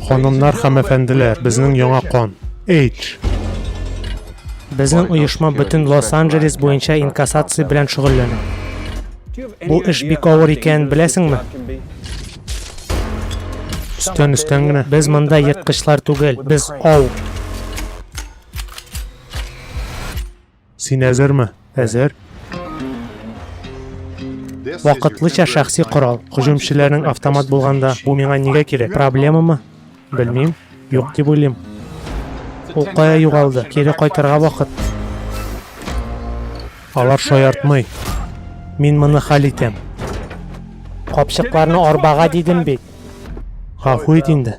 Ханымнар һәм әфәнделәр, безнең яңа кан. H. Безнең оешма бөтен Лос-Анджелес буенча инкассация белән шөгыльләнә. Бу эш бик авыр икәнен беләсеңме? Өстән өстән генә. Без монда ерткычлар түгел, без ау. Син әзерме? Әзер. Вакытлыча шәхси корал. Һөҗүмчеләрнең автомат булганда, бу миңа нигә кирәк? Проблемамы? Белмим. Юк дип уйлыйм. Ул кая югалды? Кире кайтырга вакыт. Алар шаяртмый. Мин моны хәл итәм. Капчыкларны арбага дидем бит. Гафу ит инде.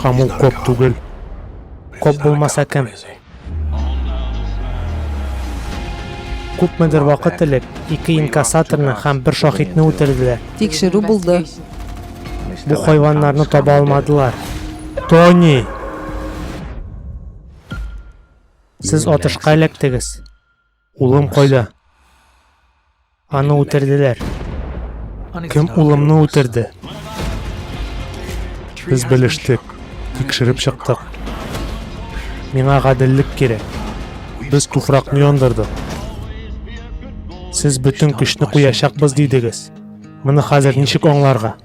Һәм ул коп түгел. Коп булмаса кем? Күпмедер вакыт элек ике инкассаторны һәм бер шахидны үтерделәр. Тикшерү булды. Бу хайваннарны таба алмадылар. Тони! Сез атышка эләктегез. Улым кайда? Аны үтерделәр. Кем улымны үтерде? Без белештек, тикшереп чыктык. Миңа гаделлек кирәк. Без туфракны яндырдык. Сез бөтен көчне куячакбыз дидегез. Моны хәзер ничек аңларга?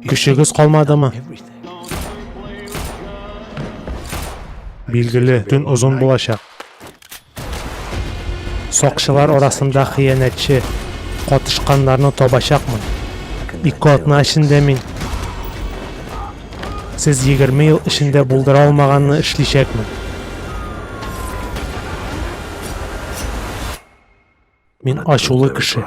Көчегез калмадымы? Билгеле, төн озын булачак. Сакчылар арасында хыянәтче катышканнарны табачакмын. Ике атна эчендә мин сез 20 ел эчендә булдыра алмаганны эшличәкмен. Мин ачулы кеше.